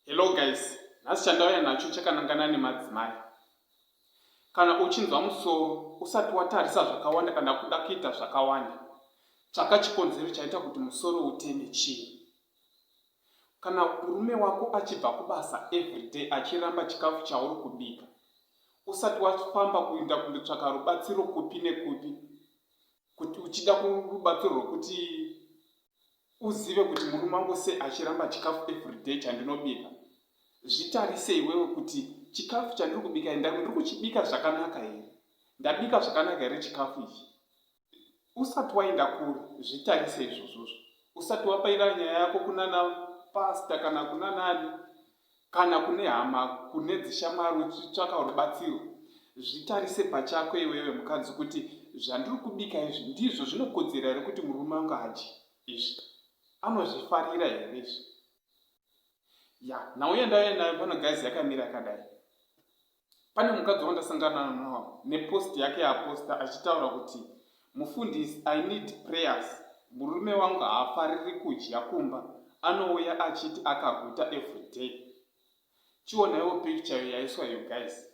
Hello guys, nhasi chandauya nacho chakanangana nemadzimai. Kana uchinzwa musoro usati watarisa zvakawanda kana kuda kuita zvakawanda, tsvaka chikonzero chaita kuti musoro uteme chii. Kana murume wako achibva kubasa everyday achiramba chikafu chauri kubika, usati wafamba kuinda kundotsvaka rubatsiro kupi nekupi, kuti uchida kurubatsiro rwekuti uzive kuti murume wangu sei achiramba chikafu everyday chandinobika zvitarise iwewe kuti chikafu chandiri kubika here ndiri kuchibika zvakanaka here ndabika zvakanaka here chikafu ichi usati waenda kuri zvitarise izvozvozvo usati wapaira nyaya yako kunana pasta kana kunanani Kana kune hama, kune dzishamwari uchitsvaka rubatsiro, zvitarise pachako iwewe mukadzi kuti zvandiri kubika izvi ndizvo zvinokodzera here kuti murume wangu adye izvi? Anozvifarira here izvi? Ya, nhau yandauya nayo pano guys yakamira yakadai. pane mukadzi wandasangana nawo nepost yake yaaposta achitaura kuti mufundisi i need prayers murume wangu haafariri kudya kumba anouya achiti akaguta everyday chionaiwo picture yo yaiswa yo guys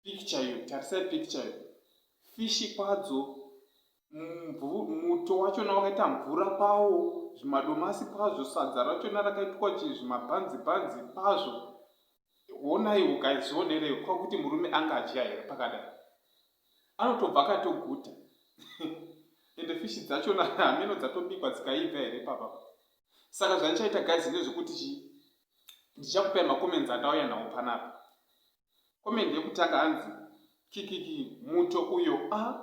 picture yo tarisai picture yo fishi kwadzo muto wachona wakaita mvura pawo zvimadomasi kwazvo sadza rachona rakaitwa chii zvimabhanzi bhanzi kwazvo honaiwo guys zvionerewo ko kuti murume anga adya here pakadai anotobva akatoguta ende fishi dzacho hameno dzatobikwa dzikaibva here papa saka zvandichaita guys ndezvekuti chi ndichakupai macomments andauya nawo panapa comment yekutanga hanzi kikiki muto uyo a ah,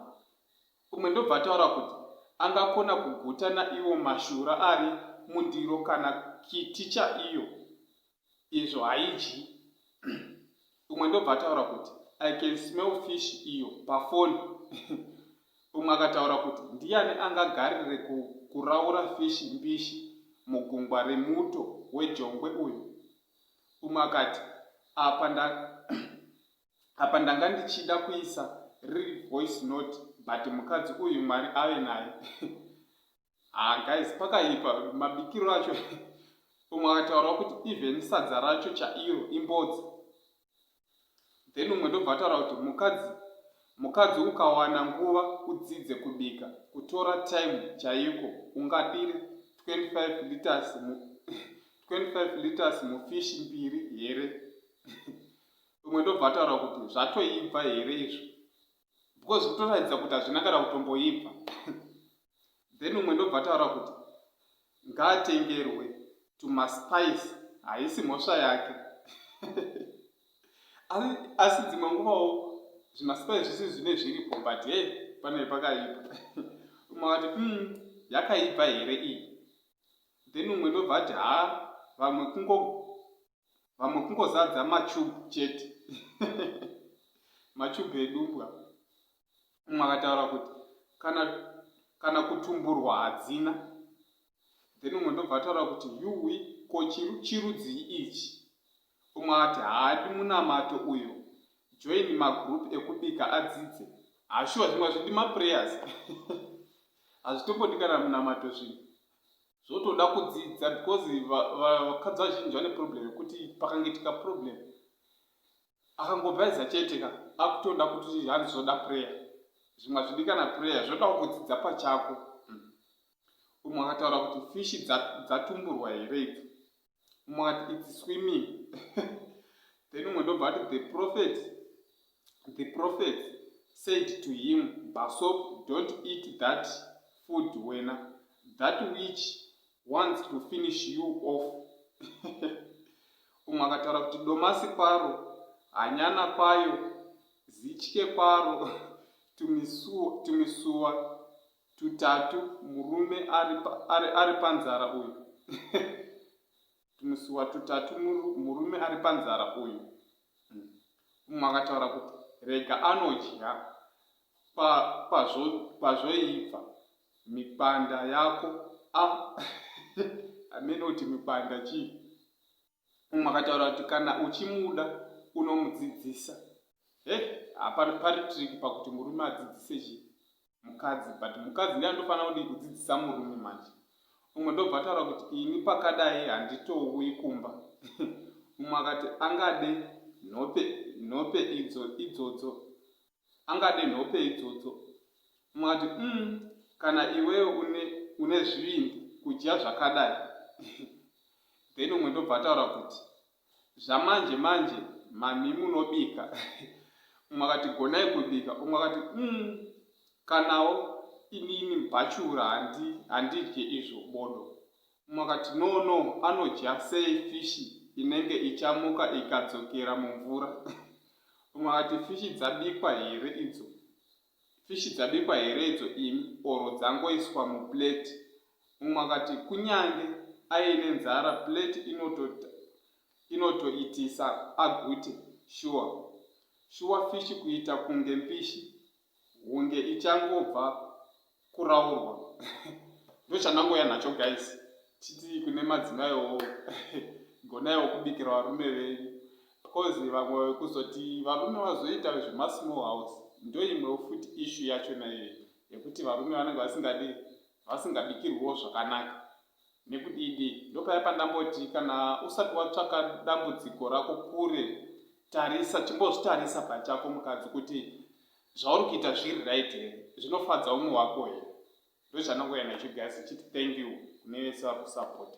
umwe ndobva ataura kuti angakona kuguta naiwo mashura ari mundiro kana kiti chaiyo izvo haidyi umwe ndobva ataura kuti i can smell fish iyo pafoni umwe akataura kuti ndiyani angagarire kuraura fishi mbishi mugungwa remuto wejongwe uyu umwe akati apa nda apa ndanga ndichida kuisa riri voice note but mukadzi uyu mwari ave naye ah guys pakaipa mabikiro acho umwe akataura kuti even sadza racho chairo imbodzi then umwe ndobva ataura kuti mukadzi mukadzi ukawana nguva udzidze kubika kutora time chaiko ungadiri 25 liters 25 liters mufishi mbiri here umwe ndobva ataura kuti zvatoibva here izvo because kutoratidza kuti hazvina kana kutomboibva then umwe ndobva ataura kuti ngaatengerwe to maspice haisi mhosva yake asi dzimwe nguvawo zvimaspice zvisi zvine zviripo but he pane pakaipa umwe vati um hmm, yakaibva here iyi then umwe ndobva ati haa vamwe kungo vamwe kungozadza matube chete matube edumbwa umwe akataura kuti kana kana kutumburwa hadzina then umwe ndobva ataura kuti yuwi ko chirudzii ichi umwe ati haadi munamato uyo join magroup ekubika adzidze hashuwa zvimwe zvidi maprayers hazvitombodikana munamato zvinhu zvotoda kudzidza because vakadzi vazhinji vane problem yekuti pakangitika problem akangobhaiza chete ka akutoda kuti hanzi zvoda prayer zvimwe hazvidikana prayer zvodawo kudzidza pachako umwe akataura kuti fishi dzatumburwa here idzi umwe ati its swimming then umwe ndobva ati the prophet the prophet said to him basop don't eat that food wena that witch wants to finish you off umwe akataura kuti domasi paro hanyana payo zitye paro tumisuwa Tutatu murume ari panzara uyu Tumusuwa tutatu murume ari panzara uyu hmm. Umwe akataura kuti rega anodya pazvoibva pa mipanda yako a ah. amene kuti mipanda chii umwe akataura kuti kana uchimuda unomudzidzisa he hapari pari trick pakuti murume adzidzise chi mukadzi but mukadzi ndiye anotofanira kudii kudzidzisa murume manje umwe ndobva ataura kuti ini pakadai handitouyi kumba umwe akati angade nhope nhope idzo idzodzo angade nhope idzodzo umwe ati umm kana iwewe une, une zvivindi kudya zvakadai then umwe ndobva ataura kuti zvamanje manje mami munobika umwe akati gonai kubika umwe akati umm kanawo inini bhachura handidye izvo bodo Mumwe akati, No, no, anodya sei fishi inenge ichamuka ikadzokera mumvura? Mumwe akati, Fishi dzabikwa here idzo? Fishi dzabikwa here idzo imi, or dzangoiswa muplate? Mumwe akati, Kunyange aine nzara, plate inotoita inotoitisa agute shuwa shuwa fishi kuita kunge mbishi hunge ichangobva kuraurwa ndochandangoya nacho guys titi kune madzimaiwo gonaiwo kubikira varume venyu because vamwe vekuzoti varume vazoita zvemasmall house ndoimwewo futi ishu yacho naiyo yekuti varume vanenge vasingadi vasingabikirwiwo zvakanaka Nekudidi? Ndopaya pandamboti kana usati watsvaka dambudziko rako kure, tarisa, chimbozvitarisa pachako mukadzi kuti zvauri kuita zviri right here, zvinofadza umwe wako here. Ndozvandangoyana chigazi chiti thank you kune vese vari kusapota.